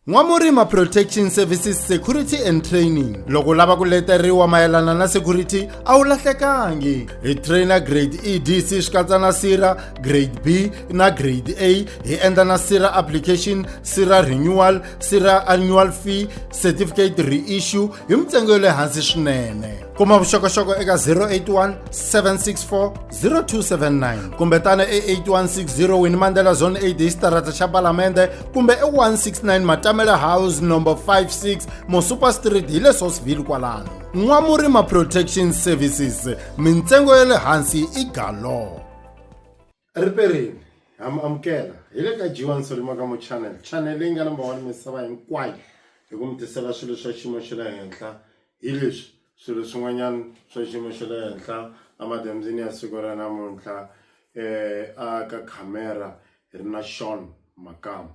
N'wamurima Protection Services Security and Training loko u lava ku leteriwa mayelana na security a wu lahlekangi hi trainer grade EDC swi katsa na sira grade B na grade A hi endla na sira application sira renewal sira annual fee certificate reissue hi mintsengo ya le hansi swinene kuma vuxokoxoko eka 081 764 0279 kumbe tana e 8160 wini mandela zone 8 hi xitarata xa palamende kumbe e169 matamele house number 56 mosuper street hi le sosville kwalano n'wamurima protection services mintsengo ya le hansi i galo riperini ha mi amukela hi le ka jiwa nsolima ka mo channel channel leyi nga namba wani misava hinkwayo hi ku mi tisela swilo swa xiyimo xa le henhla hi leswi swilo swin'wanyana swa xiyimo xa le henhla emadyambyini ya siku ra namuntlha um a ka khamera hi ri na Shawn Makamu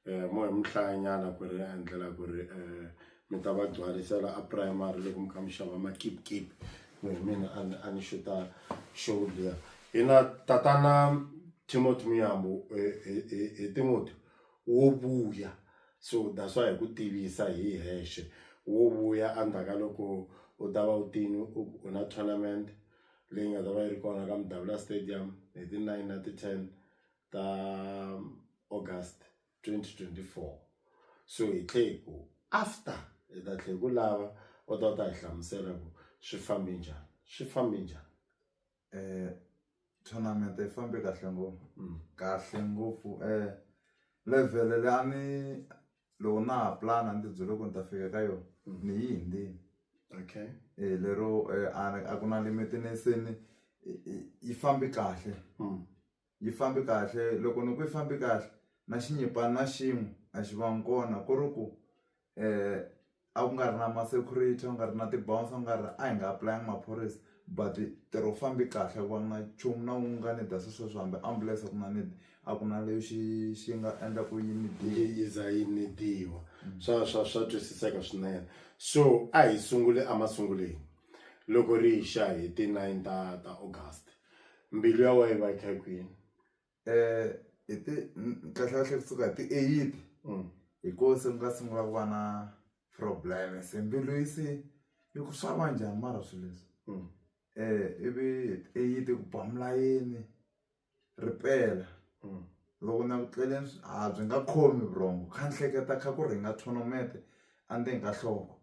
um mo hi mu hlaya nyana ku ri endlela ku ri um mi ta va gcwalisela a primary loko mi kha mi xava makipkip ku hi mina a ni a ni xuta show liya hi na tatana Timothy Muyambu hi Timothy wo vuya so that's why hi ku tivisa hi hexe wo vuya endzhaku ka loko u ta va u tini u na tournament. leyi nga ta va yi ri kona ka Mdavula Stadium hi ti nine na ti ten ta August twenty twenty four so hi tlhe hi ku after hi ta tlhe hi ku lava u ta u ta hi hlamusela ku swi fambe njhani swi fambe njhani. Tournament yi fambe kahle ngopfu kahle ngopfu level leyi a ni. loko na ha pulana ni tibyele ku ni ta fika ka yona ni yi hundzile okay lero a ku na limit ni se ni yi fambe kahle yi fambe kahle loko ni ku yi fambe kahle na xinyipana na xin'we a xi vangi kona ku ri ku . a ku nga ri na ma-security a ku nga ri na ti-bouncer ku nga ri a hi nga apulanga maphorisa but ntirho wu fambe kahle a ku va nga na nchumu na wun'we nga ni dya se sweswo hambi ambulense a ku na ni a ku na lexi xi nga endla ku yi ni yi za yi ni dyiwa swa swa swa twisiseka swinene so a hi sunguli emasungulweni loko ri yi xa hi ti-nine ta ta August mbilu ya wena yi va yi kha yi kwini. hi ti kahlekahle kusuka hi ti-eighty hi kona se ku nga sungula ku va na problem se mbilu yi se yi ku swa va njhani mara swi leswi ivi hi ti-eighty ku biwa milayeni ripela loko na ku tleleni a byi nga khomi vurhongo kha ni hleketa kha ku rhinga tournament endzeni ka nhloko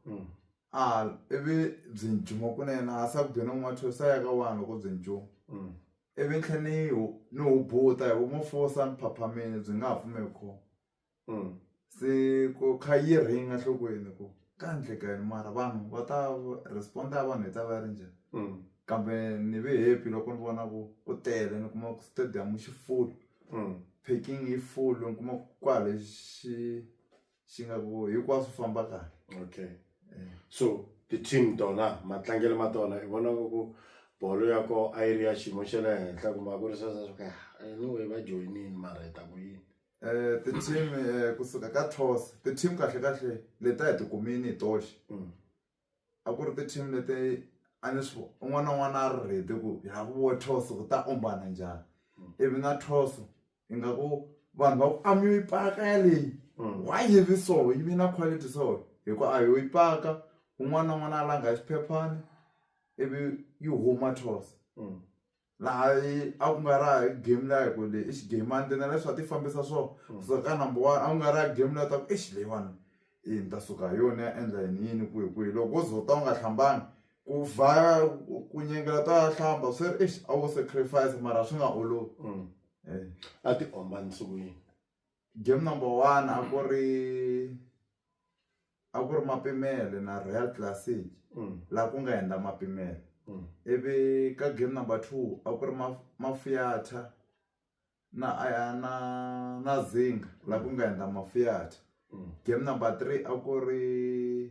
ivi byi kunene a se ku be ni n'wi mathweso se a ya ka wani loko byi . Ivi tlhe ni hu, ni hubuta, hi vumofosa ni phaphamile, byi nga ha pfumeki kona. Se ku kha yi ring enhlokweni ku ka endleka yini mara vanhu va ta respond ya vanhu yi ta va yi ri njhani. Kambe ni ve happy loko ni vona ku ku tele ni kuma ku stadium xi full, parking yi full ni kuma ku kwale xi. swi nga ku hinkwaswo famba kahle okay eh. so ti-team tona matlangelo ma tona i vona ku bolo ya ko a yi ri ya xiyimo xa le henhla kumbe a ku ri sweswo swa ku ya anyway va joyinini mara hi ta ku yini um ti-team um kusuka ka tos ti-team kahle kahle leti a hi tikumini hi toxe mm. a ku ri ti-team leti a ni swi un'wana na un'wana a ri ready ku hi lava ku vona toss ku ta ombana njhani ivi na toss ingaku vanhu va ku a mi yi paka yaleyi why yi vi so yi vi na quality so hi ku a yo yi paka un'wana na un'wana a langa xiphephana ivi yi huma toss. laha a ku nga ra game la hi ku le i xigame a ni na leswi a ti fambisa swo mm. so ka number one a ku nga ra game la ta ku exi leyiwani i ni ta suka hi yona ya endla yini yini kwihi kwihi loko wo zota u nga hlambanga ku va ku nyengela ta ya hlamba swi ri exi a wo sacrifice mara swi nga olovi mm. eh. a ti omba nsukwini Game number one a ku ri a ku ri Mapimele na Real Classic laha ku nga hundza Mapimele ivi ka game number two a ku ri Mafiyatha na na na Zinga laha ku nga hundza Mafiyatha game number three a ku ri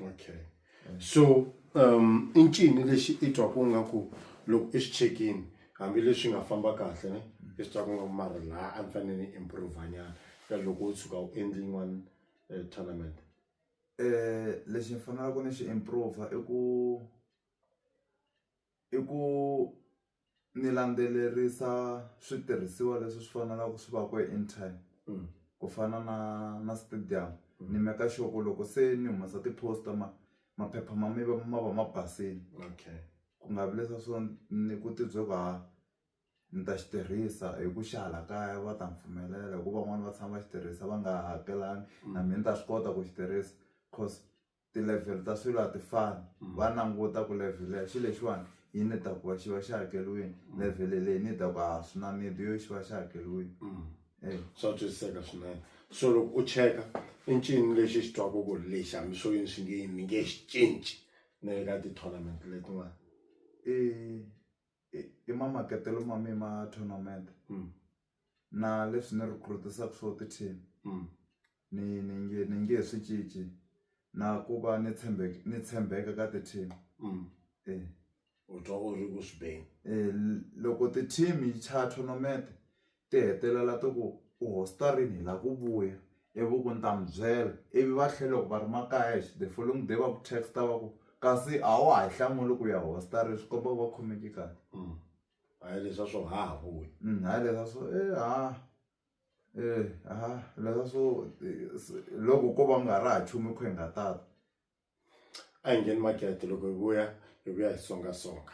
okay mm. so um i ncini lexi i twaku nga ku loko i swi chekini hambileswi nga famba kahle ne mm. i swi twaku nga mara laha a ni fanele ni improve nyana ka loko u tshuka u endli yin'wana eh, tournament um lexi ni fanelaka ni xi improve i ku i ku ni landzelerisa switirhisiwa leswi swi faneleke swi va kona in time ku fana na na stadium ni make sure ku loko se ni humesa ti-poster ma maphepha ma ma ma va ma basile ku nga vi leswiya swo ni ku ti byela ku ha ni ta xi tirhisa hi ku xa hala kaya va ta ni pfumelela hikuva van'wani va tshama va xi tirhisa va nga hakelanga na mina ni ta swi kota ku xi tirhisa cause. ti-level ta swilo a ti fani mm. va languta ku level ya xilo lexiwani yi ni ta ku va xi va xi hakeriwini mm. level leyi ni ta ku a ah, swi na nidi yo xi va xi hakeriwini mm. eh. swa twisiseka swinene so loko u cheka i ncini lexi xi twaka ku ri lexi hambi swo yini swi nge yini ni nge xi cinci na le ka ti-tournament letin'wana i i ma makatelo ma mi ma tournament mm. na leswi ni recruitisaka swo ti-team mm. ni ni nge ni nge swi cinci na ku va ni tshembeka ni tshembeka ka ti-team mm. e u twa u ri ku swi beni e loko ti-team yi chaya tournament ti hetelela ti ku u hosta rini hi lava ku vuya ivi u ku ni ta mi byela ivi va tlhela loko va ri makaya the following day va ku text va ku kasi a wa ha yi hlamuli ku ya hosta rini swi komba ku va khomeki kahle a hi leswa swo ha ha vuyi hayi leswa swo e ha e ha leswa swo loko ko va ku nga ri ha nchumu hi kha hi nga tata a hi ngheni makete loko hi vuya hi vuya hi songa songa.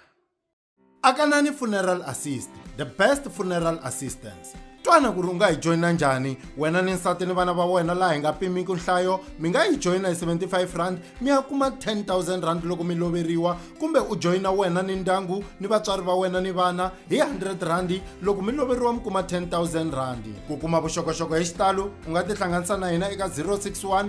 Akanani Funeral Assist, the best funeral assistance. Twana ku ri u nga hi joyina njhani wena ni nsati ni vana va wena laha hi nga pimiki nhlayo mi nga yi joyina hi 75 rand mi ya kuma 10000 rand loko mi loveriwa kumbe u joyina wena ni ndyangu ni vatswari va wena ni vana hi 100 rand loko mi loveriwa mi kuma 10000 rand ku kuma vuxokoxoko hi xitalo u nga tihlanganisa na hina eka 061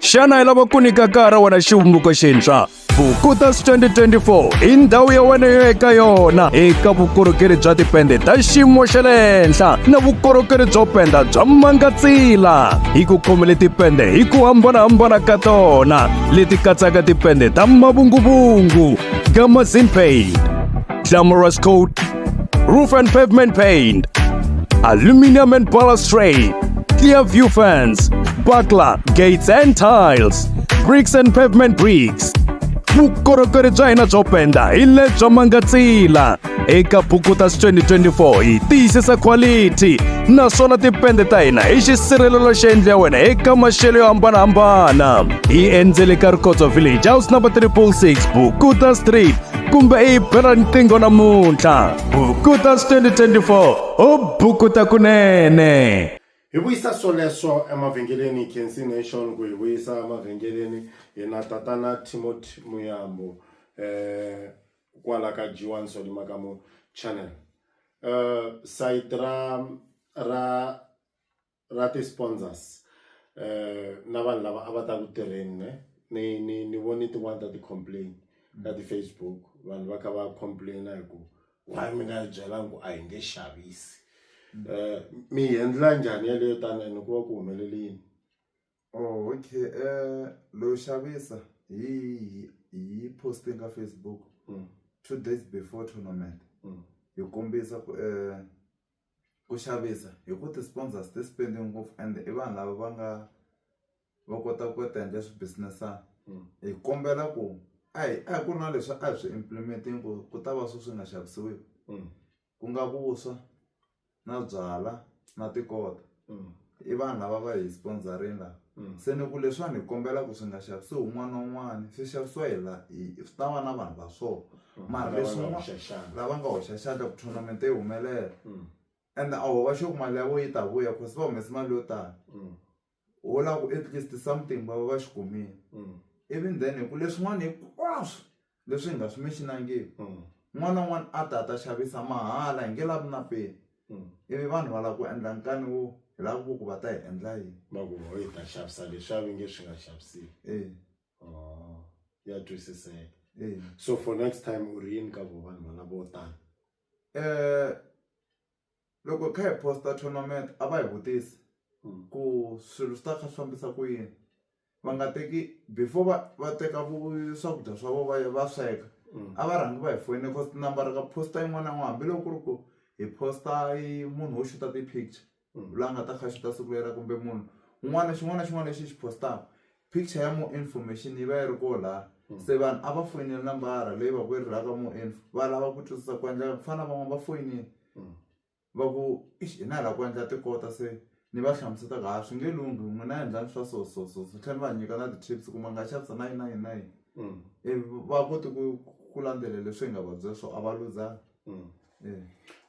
xana i lava ku nyika kaya ra wena xivumbeko xintshwa vukutas 2024 i ndhawu ya wena yo eka yona eka vukorhokeri bya tipende ta xiyimo xa le henhla na vukorhokeri byo penda bya mangatsila hi ku khomele tipende hi ku hambanahambana ka tona leti katsaka tipende ta mavunguvungu gamazinpaid glamorous coat, roof and pavement paint, aluminum and balustrade, clear view fence, buckler, gates and tiles, bricks and pavement bricks. vukorhokeri bya hina byo penda hi lebyo mangatsila eka bukutas 2024 hi tiyisisa quality naswona tipende ta hina hi xisirhelelo xi endliwa wena eka maxelo yo hambanahambana hi endzele ka rikhotso village house number 366 bukuta street kumbe i yi bela riqingho namuntlha bukuta 2024 u bukuta kunene hi vuyisa swoleswo emavhengeleni kensi nation ku hi vuyisa emavhengeleni hi na tatana timothy muyambo um eh, kwala ka jiwan solima ka mo channel um eh, sayiti ra ra ra ti sponsors na vanhu lava a va ta ku tirheni ne ni ni ni voni tin'wani ta ti complain ka ti Facebook vanhu va kha va complain hi ku why mi nga hi byelanga ku a hi nge xavisi mi yi endla njhani yeleyo tani ene ku va ku humelele yini. Oh okay loyo xavisa hi hi yi post-e ka Facebook two days before tournament hi kombisa ku Ku xavisa hi ku ti-sponsors ti spend-e ngopfu and i vanhu lava va nga va kota ku ti endla swi business-ana hi kombela ku a hi a hi ku ri na leswi a hi swi implement-ini ku ku ta va swi swi nga xavisiweki ku nga vuswa na byalwa na tikota. mm. i vanhu lava va hi sponsorini lava mm. se ni ku leswiwani hi kombela ku swi nga xavisi wun'wana na wun'wana swi xavisiwa hi la swi ta va na vanhu va swona mm. mara leswinwa lava nga hoxa xandla ku tournament yi humelela ende a ho va xo ku mali ya vo yi ta vuya cause va humese mali yo tala wo lava ku at least something va va va xi kumile even then hi ku leswin'wana hinkwaswo leswi hi nga swi mention-angiki un'wana na un'wana a ta a ta xavisa mahala hi nge lavi na peni ivi vanhu va lava ku endla nkani wo hi lava ku vo ku va ta hi endla yini va ku ho hi ta xavisa leswi a va nge swi nga xaviseki e ya twisiseka so for next time u ri yini ka vo vanhu valavo tani um Loko hi kha hi post tournament a va hi vutisa ku swilo swi ta kha swi fambisa ku yini va nga teki before va va teka vu swakudya swa vona va ya va sweka a va rhangi va hi foyina cause tinambara ka post yin'wana na yin'wana hambiloko ku ri ku hi post-a yi munhu wo xuta ti-picture la nga ta kha a xuta siku leriya kumbe munhu un'wana xin'wana na xin'wana lexi hi xi post-aka Picture ya more information yi va yi ri koho lahaya se vanhu a va foyineli nambara leyi va ku yi ri laha ka more info va lava ku twisisa ku endleka ku fana na van'wana va foyinile va ku i hi na hi lava ku endla tikota se ni va hlamusela ku ha swi nge lunghi n'wina endlani swa so so so so tlhela ni va nyika na ti-tips ku ma nga xavisa na yini na yini na yini ivi va kote ku ku landzelela leswi hi nga va byela swona a va luzanga e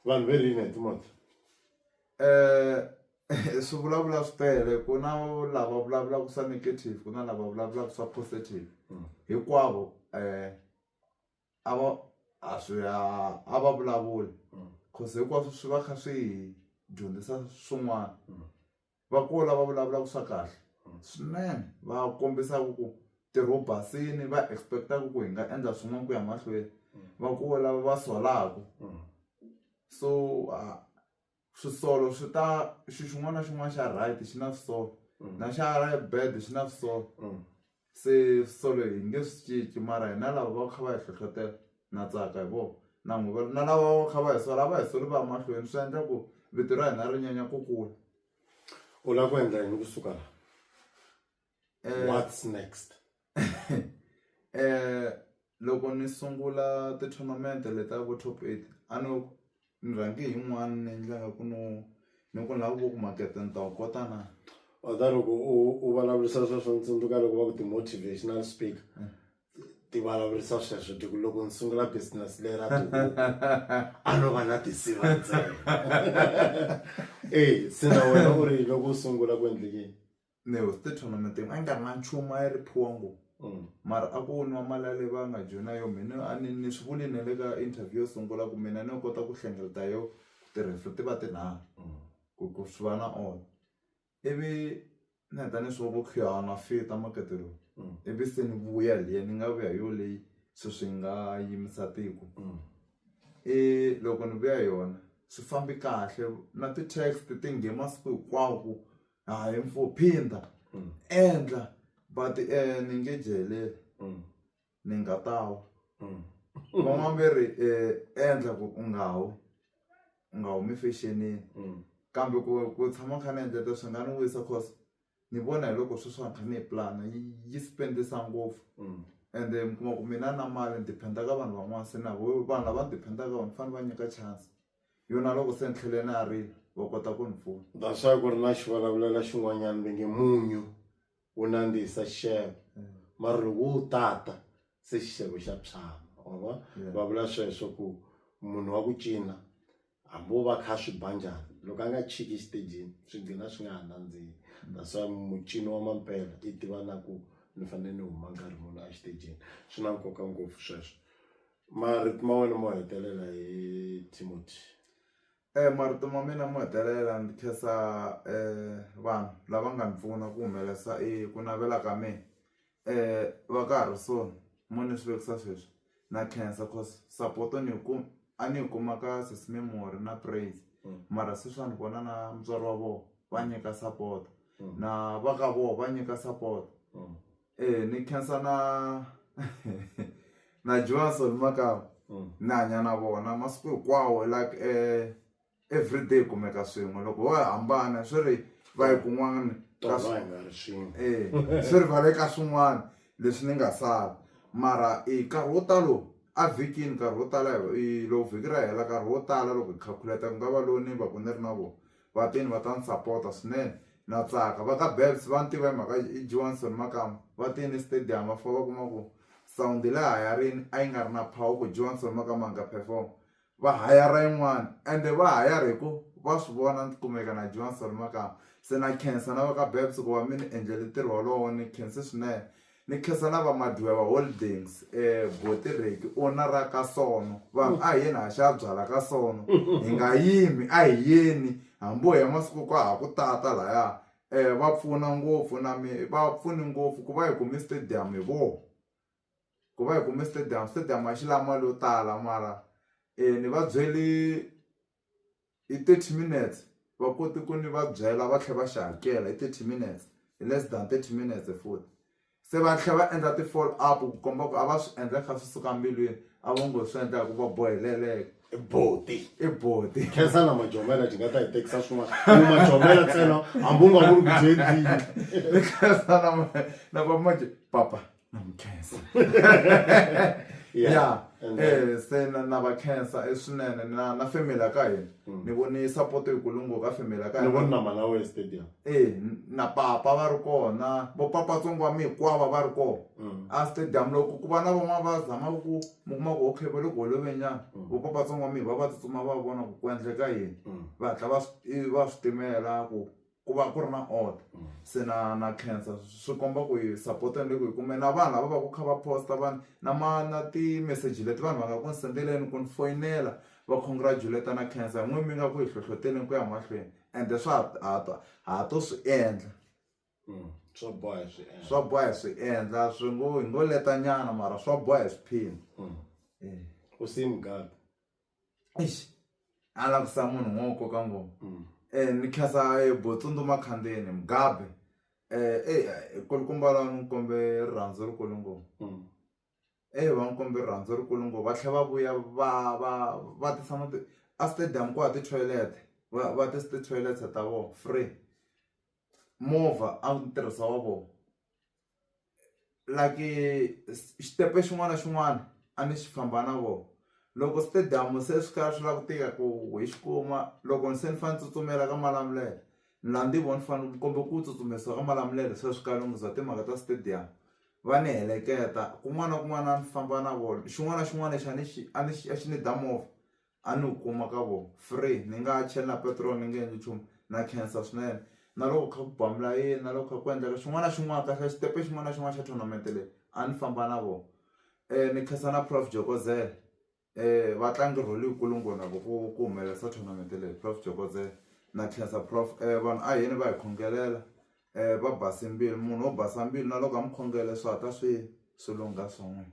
vanhu va rini hi timondzo . swi vulavula swi tele ku na lava vulavulaka swa negative ku na lava vulavulaka swa positive hinkwavo a va a swi ya a va vulavuli cause hinkwaswo swi va kha swi dyondzisa swin'wana va kona lava vulavulaka swa kahle swinene va kombisaka ku ntirho wu basile va expect-aka ku hi nga endla swin'wana ku ya mahlweni va kona lava va solaku so . swisolo swi ta xi xin'wana na xin'wana xa right xi na swisolo mm. na xa bad xi na swisolo mm. se swisolo hi nge swi cinci mara hina lava va kha va hi hlohlotela na tsaka hi vona na n'wi va na lava va kha va hi sola va hi soli va ya mahlweni swi endla ku vito ra hina ri nyanya ku kula u lava ku endla yini kusuka laha Eh, What's next? eh loko ni sungula ti-tournament le ta vo top eight a no ni rhange hi n'wana ni endla nga ku no ni ku ni lava ku vo ku makete ni ta wu kota na Other loko u u vulavurisa sweswo ni tsundzuka loko va ku ti-motivational speaker ti vulavurisa sweswo ti ku loko ni sungula business leyi ra tihuku a no va na tinsiva ntsena eyi se na wena u ri loko u sungula ku endlekini ne was the tournament a nga nga nchumu a yi ri phongo mm. mara a ku nwa mali ya le va nga joyina yo mina a ni ni swi vuli ne le ka interview yo sungula ku mina ni yo kota ku hlengeleta yo tirhisa ti va tinharhu mm. ku ku swi va na all ivi ni heta ni swi va ku khuyana fita makete lowu mm. ivi se ni vuya liya ni nga vuya yo leyi se swi nga yimisa tiko i loko ni vuya yona swi fambi kahle na ti-text ti nghe masiku hinkwawo ku hayi mfo phinda Mm. endla but um ni nge jelela Mm. ni nga tawa Mm. van'wana ve ri um endla ku u nga wi u nga humi fexenini Mm. kambe ku ku tshama kha ni endleta swi nga ni wisa cause ni vona hi loko sweswiwani kha ni yi plana yi yi spendisa ngopfu Mm. and then mi kuma ku mina na mali ni dependa ka vanhu van'wana se na vo vanhu lava ni dependaka ka vona ni fanele va nyika chance yona loko se ni tlhele na ri va kota ku ni pfuna that's why ku ri na xivulavulelo xin'wanyana va nge munyu wu nandzihisa xixevo mara loko wo wu tata se xixevo xa tshama wa vona Yeah. va vula sweswo ku munhu wa ku cina hambi wo va kha swi ba njhani loko a nga chiki exitejini swi gcina swi nga ha nandzihi that's why mucini wa mampela i tiva na ku ni fanele ni huma nkarhi muni exitejini swi na nkoka ngopfu sweswo Marito ma wena mo hetelela hi Timothy. E marito ma mina mo hetelela ndzi khensa vanhu lava nga ni pfuna ku humelerisa eku navela ka mina va ka ha ri so mo ni swi vekisa sweswi na khensa coz support ni yi kuma a ni yi kuma ka sesi Memory na Praise mara sweswiwani vona na mutswari wa vona va nyika support na va ka vona va nyika support. Ee, ni khensa na na Johnson Makau Mm. ni hanya na vona masiku hinkwawo like eh, everyday kumeka swin'we loko ho hambana swi ri va yi kun'wana ka tolo hi nga ri swin'we Eh, swi ri va le ka swin'wana leswi ni nga sala mara i nkarhi wo talo a vhikini nkarhi wo tala hi- i- loko vhiki ra hela nkarhi wo tala loko hi calculate ku nga va lowu ni va ku ni ri na vona Vatini va ta ni sapota swinene. Na tsaka. Va ka Babs va ni tiva hi mhaka i Johnson Makamu. Va tile estadium va fika va kuma ku sound le hayarini a yi nga ri na power ku Johnson Makamu a nga perform. Va hayara yin'wana ende va hayara hi ku va swi vona ni kumeka na Johnson Makamu. Se na khensa na va ka Babs ku va mi ni endlele ntirho wolowo ni khense swinene. Ni khensa na vamadyiwa va Holdings eBotireki, owner ra ka Sono. Vanhu a hi yeni ha xa byala ka Sono. Hi nga yimi, a hi yeni. Hambi wo ya masiku ka ha ku tata lahaya. Va pfuna ngopfu na mi va pfune ngopfu ku va hi kume stadium hi vona. Ku va hi kume stadium, stadium a xi lavi mali yo tala mara ni va byele hi thirty minutes va kote ku ni va byela va tlhela va xi hakela hi thirty minutes hi less than thirty minutes futhi se va tlhela va endla ti follow up ku komba ku a va swi endla kha swi suka mbilwini a vo ngo swi endla ku va boheleleka i boti i boti khensa na majomela ti nga ta hi tekisa swin'wana ku majomela ntsena hambi u nga vuli ku byi endlile ni khensa na na va manje papa na mi khensa ya Yeah, and then- eh se na na va khensa eh, swinene na na family ya ka hina ni voni support yikulu ngopfu ka family ya ka ni hina voni na malawi estadium eh n- na papa va ri kona vo papa tsongo wa mi hikwava va ri kona Mm. a stadium loko ku va na van'wana va zamaka ku mi kuma ku okay va le ku holovenyana vo papa tsongo wa mi va va tsutsuma va vona ku ku endleka yini Mm. va hatla va swi i- va swi timela ku ku va ku ri na order se na na khensa swi komba ku yi support ni le ku yi kumeni na vanhu lava va ku kha va post vanhu na ma na ti-message leti vanhu va nga ku ni send-eleni ku ni foyinela va congratulate na khensa hi n'wini mi nga ku hi hlohloteleni ku ya mahlweni ende swa ha ha ha to swi endla swa boha hi swi endla swa boha hi swi endla swi ngo hi ngo leta nyana mara swa boha hi swiphina u sim . eish a la ku sa munhu n'wo koka ngoma mm. eh ni khasa eh, botsondo makhandeni mugabe eh eh, eh kulukumba la ni kombe rirhandzu ri kulu ngoma mm. eh va ni kombe rirhandzu ri kulu ngoma va tlhe va vuya va va va tisa na a stadium ku ha ti toilet va va tisa ti toilet ta vo free movha a ni tirhisa wa vona like xitepe xin'wana na xin'wana a ni xi famba na vona loko stadium se swi kha swi lava ku tika ku hi xi kuma loko ni se ni fanele ni tsutsumela ka Malamulele ni la ni vona ni fanele ni kombela ku tsutsumisiwa ka Malamulele se swi kala ngopfu bya timhaka ta stadium va ni heleketa kun'wana na kun'wana a ni famba na vona xin'wana na xin'wana lexi a ni xi a ni xi a xi ni da movha. a ni wu kuma ka vona free ni nga ha cheli na petiroli ni nge endli nchumu na khensa swinene na loko kha ku ba milayeni na loko kha ku endleka xin'wana na xin'wana kahlekahle xitepe xin'wana na xin'wana xa tournament leyi a ni famba na vona ni khensa na prof Jokozela va tlange role leyikulu ngopfu na vona ku ku humelerisa tournament leyi prof Jokozela na khensa prof vanhu ahina va hi khongelela va base mbilu munhu wo basa mbilu na loko ha mi khongela swi hatla swi swi lungha swa n'wina.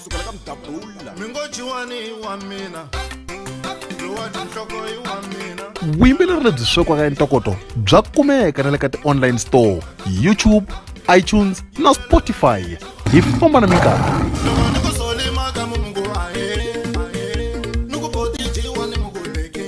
sukela ka mdabula mi ngo jiwani i wa mina lowa tinhloko i wa mina vuyimbeleri lebyi swekiwaka entokoto bya kumeka na le ka ti-online store youtube itunes na spotify hi famba na minkarhi loko ni ku solimaka mu mungu ahe ni ku boti jiwa ni mungu leke